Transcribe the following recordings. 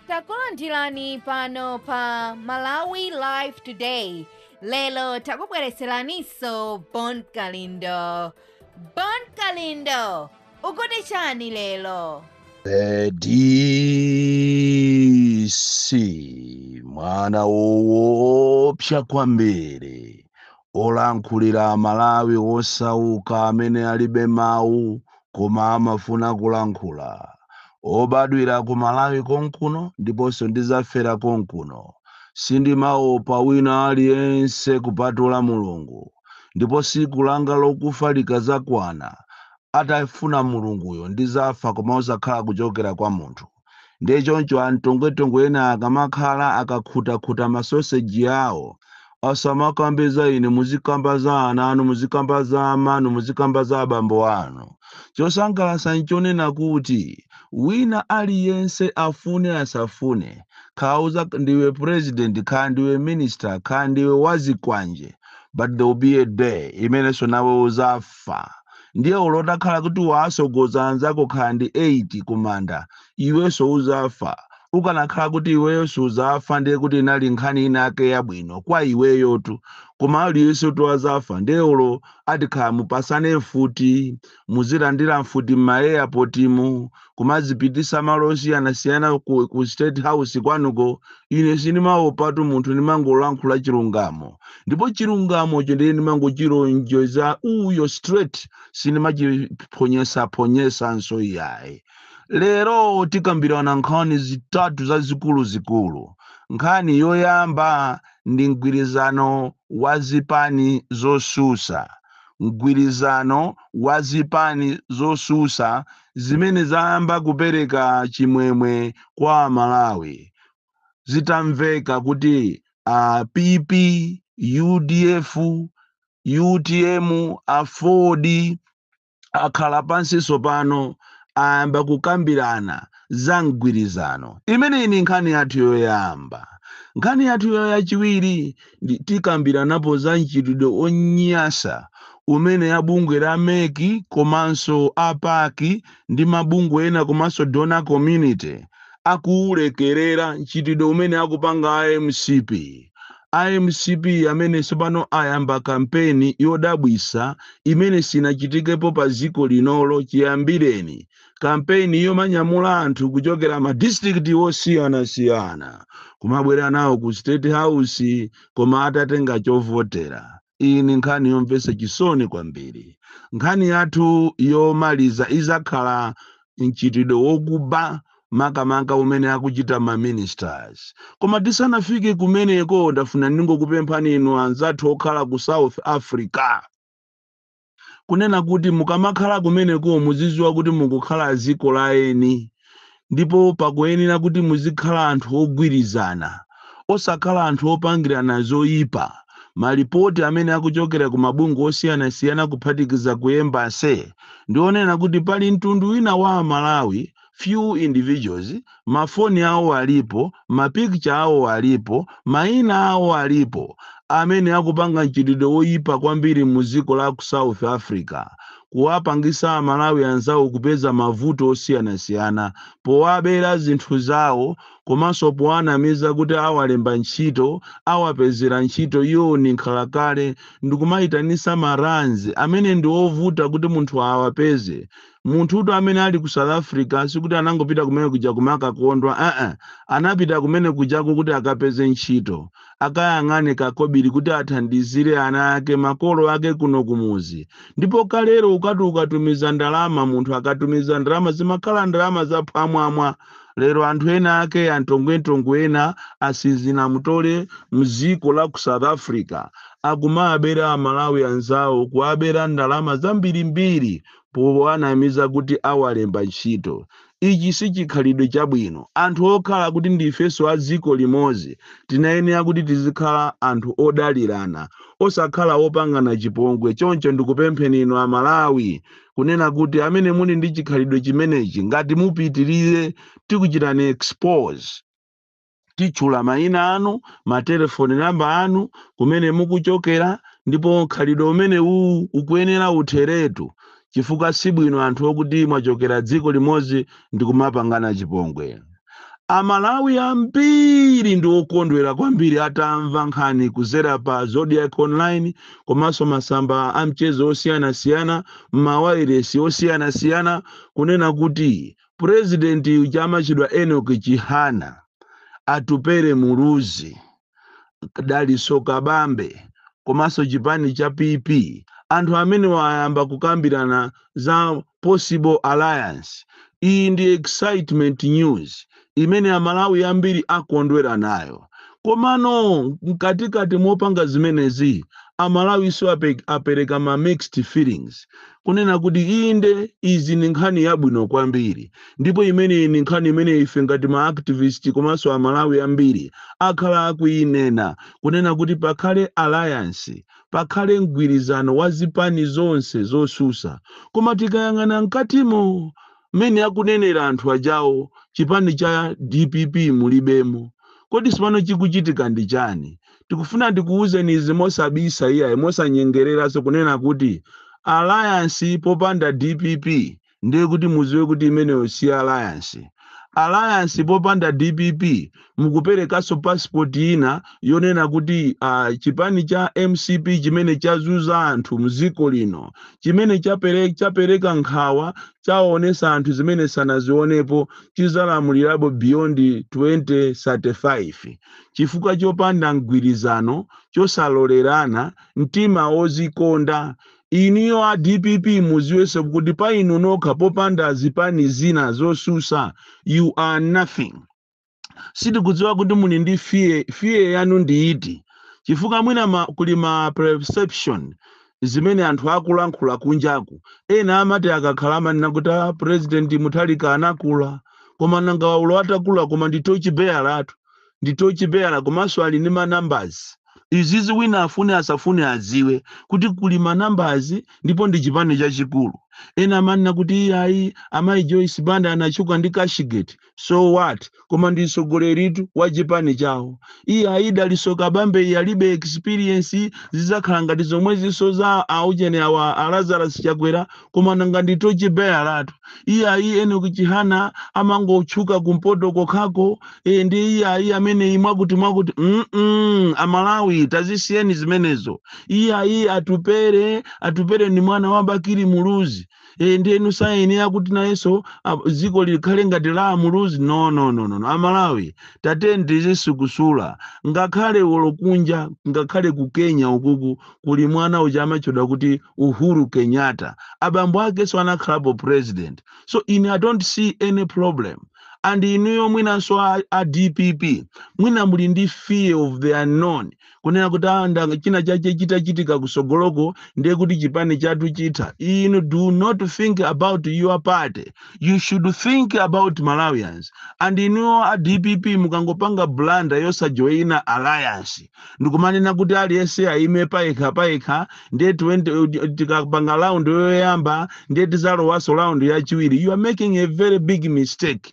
takulandirani pano pa malawi live today lelo takubweretseraniso bon kalindo bon kalindo ukuti chani lelo The DC mwana woopsa kwambiri olankhulira amalawi osauka amene alibe mawu koma amafuna kulankhula. Obadwira ku Malawi konkuno ndiponso ndizafera konkuno. Sindimaopa wina aliyense kupatula Mulungu. Ndipo siku langa lokufa likazakwana, atafuna Mulunguyo, ndizafa koma osakhala kuchokera kwa munthu. ndiye choncho antongwetongwe ena akamakhala akakhutakhuta masoseji awo asamakambe za ine muzikamba za ana anu muzikamba za amanu muzikamba za abambo anu chosangalatsa nchonena kuti wina aliyense afune asafune khala ndiwe president khala ndiwe minister khala ndiwe wazikwanje but there will be a day imenenso nawe uzafa ndiye olo utakhala kuti watsogoza anzako khala ndi 8 kumanda iwenso uzafa ukanakhala kuti iweyo suzafa ndiye kuti inali nkhani ina yake yabwino kwa iweyotu koma aliyense tu azafa ndiye olo ati khala mupasane mfuti muzilandira mfuti m'maeyapotimo kumazipitisa malo osiyanasiyana ku state house kwanuko ine sindimaopatu munthu ndimangolankhula chilungamo ndipo chilungamocho ndiye ndimangochilonjeza uyo straight sindimachiphonyesaphonyesanso iyayi lero tikambirana nkhani zitatu zazikuluzikulu nkhani yoyamba ndi mgwirizano wa zipani zosusa mgwirizano wa zipani zosusa zimene zayamba kupereka chimwemwe kwa Amalawi zitamveka kuti a PP, udf, utm, aford akhala pansi tsopano ayamba kukambirana za mgwirizano. Imeneyi ndi nkhani yathu yoyamba. Nkhani yathu yachiwiri tikambiranapo za mchitidwe onyasa umene a bungwe la mec komanso a pac ndi mabungwe ena komanso donor community akuulekerera mchitidwe umene akupanga a mcp a mcp amene tsopano ayamba kampeni yodabwisa imene sinachitikepo pa dziko linolo chiyambireni kampeni yomanyamula anthu kuchokera ma district wosiyanasiyana kumabwera nawo ku state house koma atatenga chovotera iyi ni nkhani yomvetsa chisoni kwambiri nkhani yathu yomaliza izakhala mchitidwe wokuba makamaka umene akuchita ma ministers koma tisanafike kumeneko ndafuna ndingokupemphani inu anzathu okhala ku south africa kunena kuti mukamakhala kumeneko muzidziwa kuti mukukhala dziko la eni ndipo pakuyenera kuti muzikhala anthu ogwirizana osakhala anthu opangirana zoyipa malipoti amene akuchokera ku mabungwe osiyanasiyana kuphatikiza ku embassy ndi onena kuti pali mtundu wina wa amalawi few individuals, ma phone awo alipo, ma picture awo alipo, maina awo alipo, amene akupanga mchitidwe woyipa kwambiri mu dziko la ku South Africa, kuwapangisa amalawi anzawo kupeza mavuto osiyanasiyana powabera zinthu zawo komanso powanamiza kuti awalemba ntchito, awapezera ntchito iyo ni nkhalakale ndikumayitanisa ma Rands amene ndi ovuta kuti munthu awapeze, munthutu amene ali ku south africa sikuti anangopita kumene kuja kumakakondwa aa anapita kumene kujako kuti akapeze ntchito akayang'ane kakobiri kuti athandizire ana ake makolo ake kuno kumuzi ndipo kalero ukati ukatumiza ndalama munthu akatumiza ndalama zimakhala ndalama zaphwamwamwa lero anthu ena ake antongwentongwe ena asizinamtole mziko la ku south africa akumaabera amalawi anzawo kuabera ndalama zambirimbiri powanamiza kuti awalemba ntchito. Ichi si chikhalidwe chabwino. Anthu okhala kuti ndifenso a dziko limodzi tinayenera kuti tizikhala anthu odalirana osakhala opangana chipongwe choncho ndikupempheni inu a Malawi kunena kuti amene muli ndi chikhalidwe chimenechi ngati mupitirire tikuchitani expose Titchula mayina anu, matelefoni namba anu, kumene mukuchokera ndipo mkhalidwe umenewu ukuyenera utheretu chifukwa sibwino anthu okuti mwachokera dziko limodzi ndikumapangana chipongwe. A Malawi ambiri ndi okondwera kwambiri atamva nkhani kudzera pa Zodiak Online komanso masamba amchezo osiyanasiyana, mmawayilesi osiyanasiyana kunena kuti President cha ma chidwa Enock Chihana, Atupele Muluzi, Dalitso Kabambe komanso chipani cha PP anthu amenewa ayamba kukambirana za possible alliance. Iyi ndi excitement news imene Amalawi ambiri akondwera nayo. komano mkatikati mopanga zimenezi amalawiso ape- apereka ma mixed feelings kunena kuti inde izi ni nkhani yabwino kwambiri ndipo imeneyi ni nkhani imene ife ngati ma activist komanso amalawi ambiri akhala akuyinena kunena kuti pakhale alliance pakhale mgwirizano wa zipani zonse zosusa koma tikayang'ana mkatimo mmene akunenera anthu ajawo chipani cha dpp mulibemo. Kodi tsopano chikuchitika ndi chani? Tikufuna tikuwuzeni izi mosabisa iyayi mosanyengereranso kunena kuti alliance popanda dpp ndiye kuti muziwe kuti imeneyo si alliance. Alliance popanda dpp mukuperekanso passport ina yonena kuti uh, chipani cha mcp chimene chazuza anthu mdziko lino chimene chapere, chapereka nkhawa chaonesa anthu zimene sanazionepo chizalamulirapo beyond 2035 chifukwa chopanda mgwirizano chosalolerana mtima wozikonda inuyo a dpp muziwenso kuti pa inu nokha popanda zipani zina zosusa you are nothing sitikudziwa kuti muli ndi fear fear yanu ndi iti chifukwa mwina ma, kuli ma perception zimene anthu akulankhula kunjaku ena amati akakhala amanena kuti a president mutharika anakula koma nanga wolo atakula koma ndi torchbearer wathu ndi torchbearer komanso ali ndi ma numbers izizi wina afune asafune adziwe kuti kuli ma numbers ndipo ndi chipani chachikulu ena amanena kuti iyayi amayi joyce banda anatchuka ndi cashgate so what koma ndi mtsogoleritu wa chipani chawo iyayi daliso kabambe alibe experience zidzakhala ngati zomwezinso za aujeni awa a lazarus chakwera koma nanga ndi torchbearer wathu iyayi enoch chihana amangotchuka kumpoto kokhako e, ndiye iyayi amenei mwakuti mwakuti mm amalawi tazisiyeni zimenezo iyayi atupele atupele ndi mwana wa bakili muluzi e, ndiye inu sayenera kuti nayenso ah, dziko likhale ngati la amuluzi no no no no no. amalawi tatiyeni tizisukusula ngakhale wolo kunja ngakhale ku kenya ukuku kuli mwana uja amatchedwa kuti uhuru kenyatta abambo akenso anakhalapo president so ine i don't see any problem and inuyo mwinanso a, a dpp mwina muli ndi fear of the unknown kunena kuti ah, nanga china chache chitachitika kusogoloko ndiye kuti chipani chathu chitha inu do not think about your party you should think about malawians and inuyo a dpp mukangopanga blunder yosajoyina alliance ndikumanena kuti aliyense ayime payekha payekha ndiye 20 tikapanga round yoyamba ndiye tizalowaso round yachiwiri you are making a very big mistake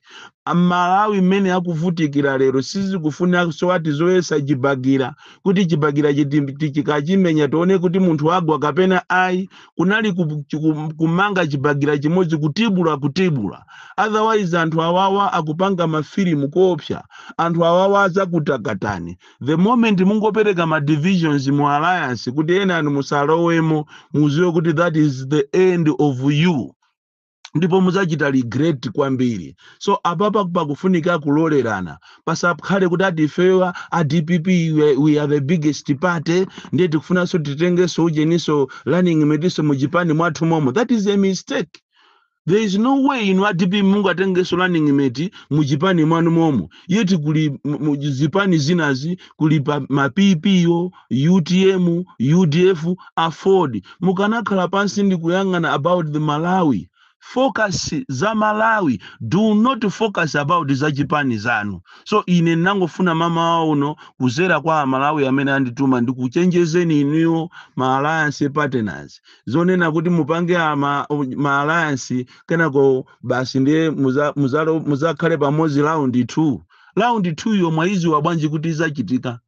malawi mmene akuvutikira lero sizikufuna zoti ati zoyesa chibagira kuti chibagira chiti- chikachimenya tione kuti munthu wagwa kapena ayi kunali ku- ku- kumanga chibagira chimodzi kutibula kutibula otherwise anthu awawa akupanga mafilimu koopsa anthu awawa azakutakatani the moment mungopereka ma divisions mu alliance kuti ena inu musalowemo muziwe kuti that is the end of you ndipo muzachita regret kwambiri so apapa pakufunika kulolerana pasakhale kuti ati ifeyo a dpp we- we are the biggest party ndiye tikufunanso titengenso ujeninso running matenso muchipani mwathu momo that is a mistake there is no way inu a dpp mungatengenso running mate muchipani mwanu momo yet kuli mu- mu- zipani zinazi kuli ma pp wo utm udf aford mukanakhala pansi ndikuyang'ana about the malawi focus za malawi do not focus about za chipani zanu so ine nangofuna mmamawa uno kuzera kwa amalawi amene andituma ndikuchenjezeni inuyo ma alliance partners zonena kuti mupange ama ma alliance kenako basi ndiye muza- muzalo- muzakhale pamodzi round 2 round 2 yo mwayiziwa bwanji kuti izachitika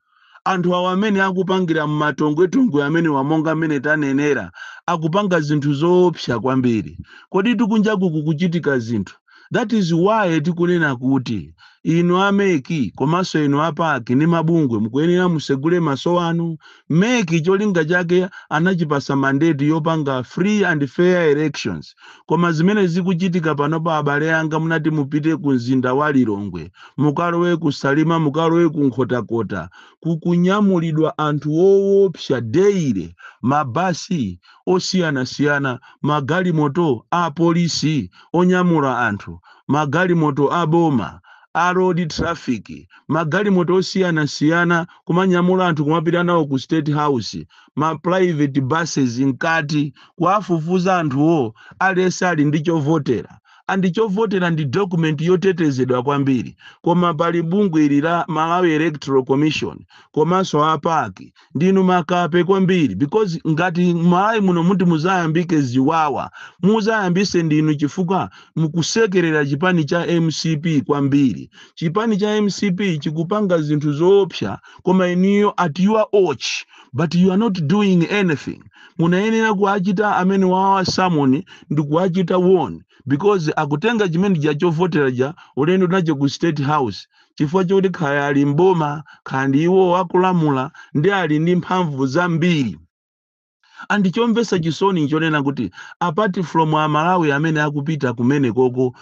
Anthu awa amene akupangira m'matongwetongwe amenewa monga mmene tanenera, akupanga zinthu zoopsa kwambiri. Komatu kunjaku kukuchitika zinthu? That is why tikunena kuti inu a mec komanso inu a pac ndi mabungwe mukuyenera musegule maso anu. Mec cholinga chake anachipatsa mandate yopanga free and fair elections koma zimene zikuchitika panopa abale anga munati mupite ku mzinda wa Lilongwe mukalowe ku salima mukalowe ku nkhotakota kukunyamulidwa anthu woopsa daily mabasi osiyanasiyana magalimoto a polisi onyamula anthu magalimoto a boma a road traffic magalimoto osiyanasiyana kumanyamula anthu kumapita nawo ku state house ma private buses mkati kuwafufuza anthuwo aliyense ali ndi chovotera and chovotera ndi document yotetezedwa kwambiri koma pali bungwe ili la Malawi Electoral Commission komanso a pac ndinu makape kwambiri because ngati Malawi muno muti muzayambike ziwawa muzayambise ndinu chifukwa mukusekerera chipani cha MCP kwambiri chipani cha MCP chikupanga zinthu zoopsa koma inuyo at your watch but you are not doing anything munayenera kuwachita amene wawa summon ndi kuwachita warn because akutenga chimene chija chovotera ja ulendo nacho ku state house chifukwa chokuti khaya ali mboma khaya ndi iwo akulamula ndi ali ndi mphamvu zambiri and chomvetsa chisoni nchonena kuti apart from amalawi amene akupita kumene koko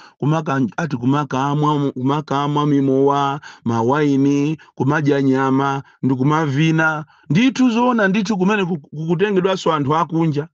kumakamwa mimowa mawaini kumadya nyama ndi kumavina ndithu zoona ndithu kumene ku- kukutengedwanso anthu akunja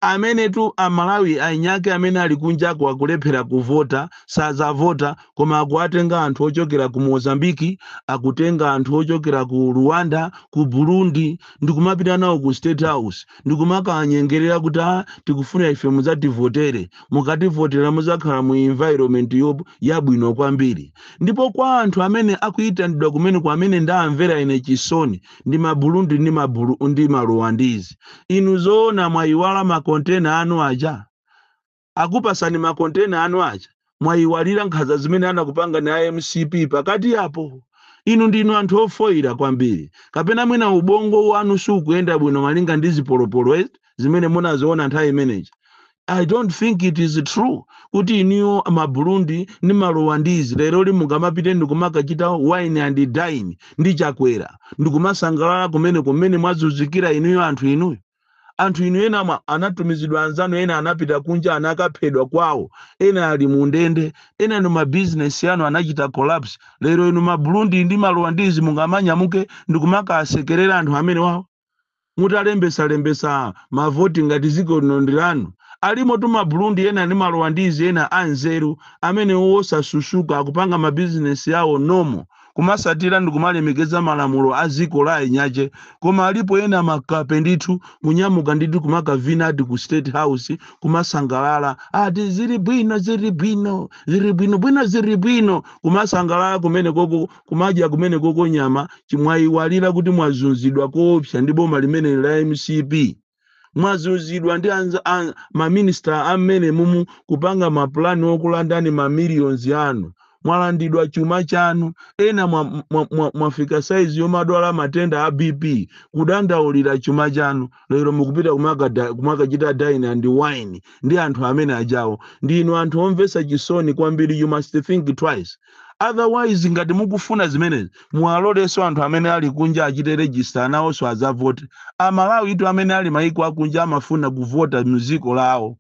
amene tu amalawi eniake amene ali kunjako akulephera kuvota sadzavota koma akuwatenga anthu ochokera ku mozambiki akutenga anthu ochokera ku rwanda ku burundi ndikumapita nawo ku state house ndikumakawanyengerera kuti a tikufuna ife mudzativotere mukativotera mudzakhala mu environment yo yabwino kwambiri ndipo kwa anthu amene akuyitanidwa kumene kwa amene ndamvera ine chisoni ndi mabulundi ndi mabulu ndi maluwandizi inu zoona mwayiwala makontena anu aja Akupasani ma container anu aja mwaiwala nkhaza zimene anakupangani a mcp pakati apo? Inu ndinu anthu ofoira kwambiri kapena mwina ubongo wanu sukuyenda bwino malinga ndi zipolopolo eti zimene munaziona nthawi imene ija. I don't think it is true kuti inuyo ma Burundi ndi ma Ruwandizi leroli mungamapite ndikumakachita wine and dine ndi Chakwera ndikumakasangalala kumeneko mmene mwazunzikira inuyo anthu inuyo. anthu inu ena mwa anatumizidwa anzanu ena anapita kunja anakaphedwa kwawo ena ali mu ndende ena inu mabizinesi anu anachita collapse lero inu mabulundi ndi maluwandizi mungamanyamuke ndikumakasekerera anthu amene wawo mutalembetsalembetsa mavoti ngati dziko lino ndi lanu alimo tu mabulundi ena ndi maluwandizi ena anzeru amene wosasusuka akupanga mabizinesi awo nomo kumasatira ndikumalemekeza malamulo a ziko la eniake koma alipo ena makape ndithu kunyamuka ndithu kumakavina ati ku state house kumasangalala ati zili bwino zili bwino zili bwino bwino zili bwino kumasangalala kumene koko kumadya kumene koko nyama chimwayiwalira kuti mwazunzidwa koopsa ndi boma limeneli la mcp mwazunzidwa ndi maminista amene mumu kupanga mapulani okulandani mamillions anu mwalandidwa chuma chanu ena mwafika mwa, mwa, mwa saizi yomadwala matenda a bp kudandaulira chuma chanu lero mukupita kumakachita dine and wine ndi anthu amene ajawo ndinu anthu omvesa chisoni kwambiri you must think twice otherwise ngati mukufuna zimenezi muwalolenso anthu amene ali kunja achite register nawonso azavote amalawitu amene ali maiko akunja amafuna kuvota mziko lawo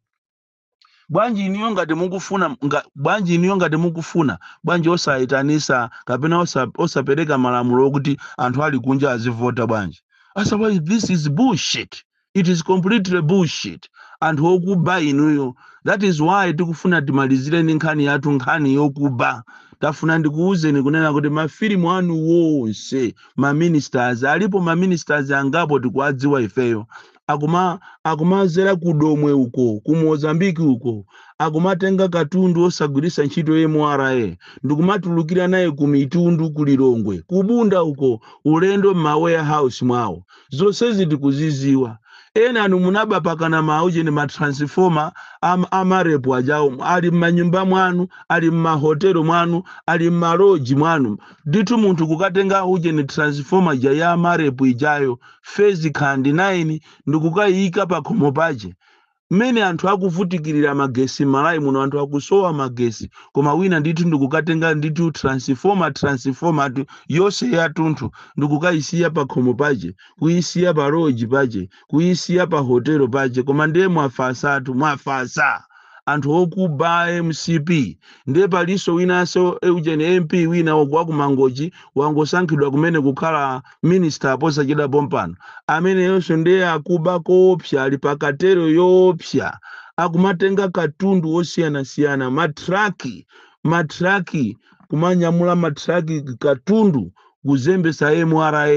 bwanji inuyo ngati mukufuna nga, bwanji inuyo ngati mukufuna bwanji osayitanisa kapena osa, osapereka malamulo okuti anthu ali kunja azivota bwanji otherwise this is bullshit it is completely bullshit anthu okuba inuyo that is why tikufuna timalizire ndi nkhani yathu nkhani yokuba tafuna ndikuwuzeni kunena kuti mafilimu anu wonse maministers alipo maministers angapo tikuwadziwa ifeyo akuma akumazera ku domwe uko ku mozambiki uko akumatenga katundu osagwiritsa ntchito mra ndikumatulukira naye ku mitundu ku lilongwe ku bunda uko ulendo mma warehouse mwawo zonsezi tikuziziwa ena anu munaba pakana ma ujeni ma transformer am, amarepu ajawo ali m'manyumba mwanu ali m'mahotelo mwanu ali m'maloji mwanu ndithu munthu kukatenga ujeni transformer ija ya amarepu ijayo fezi kaya ndi 9 ndikukayiyika pakhomo pache Mmene anthu akuvutikilira magesi mmalawi muno anthu akusowa magesi koma wina ndithu ndikukatenga ndithu transformer transformer tu yonse yatunthu ndikukaisiya pakhomo pache kuisiya pa lodge pache kuisiya pa hotel pache koma ndiye mwafasatu mwafasa anthu okuba a mcp ndiye palinso winanso ujeni mp wina wakumangochi wangosankhidwa kumene kukhala minister aposachedwa pompano ameneyonso ndiye akuba koopsa ali pa cartel yoopsa akumatenga katundu wosiyanasiyana matraki matraki kumanyamula matraki katundu kuzembesa mra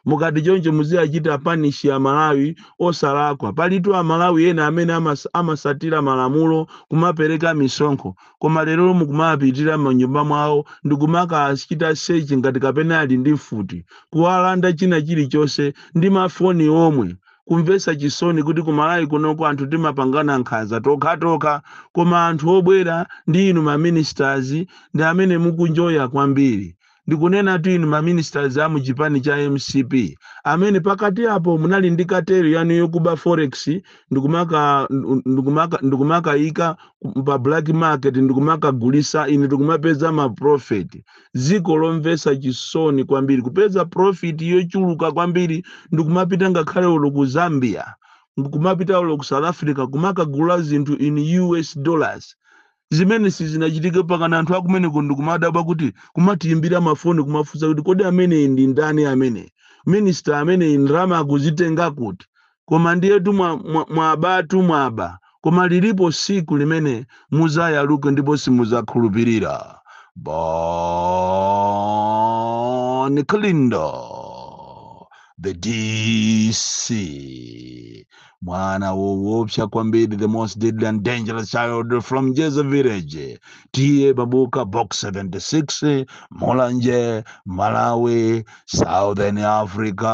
mukatero choncho muziwachita panishi amalawi osalakwa palitu amalawi ena amene amas, amasatira malamulo kumapereka misonkho koma lero mukumapitira m'manyumba mwawo ndikumakachita sechi ngati kapena ali ndi mfuti kuwalanda china chilichonse ndi mafoni omwe kumvetsa chisoni kuti kumalawi kunoko anthu timapangana nkhanza tokhatokha koma anthu obwera ndi inu maministers ndi amene mukunjoya kwambiri Ndikunenatu inu ma ministers a mu chipani cha mcp amene pakati apo munali ndi cartel yanu yokuba forex ndikumaka ndikumaka ndikumakayika ku- pa black market ndikumakagulisa inu ndikumapeza ma profit. Dziko lomvesa chisoni kwambiri kupeza profit yochuluka kwambiri ndikumapita ngakhale olo ku Zambia ndikumapita olo ku South Africa kumakagula zinthu in US dollars zimene sizinachitika pakana anthu akumeneko ndikumadabwa kuti kumatiyimbira mafoni kumafunsa kuti kodi ameneyi ndi ndani amene minista ameneyi ndalama akuzitenga kuti koma ndiyetu mwa- mwa- mwabatu mwaba koma lilipo siku limene muzayaluke ndipo simuzakhulupirira bon kalindo the dc mwana wowopsa kwambiri the most deadly and dangerous child from jeza village tiye babuka box 76 mulanje malawi southern africa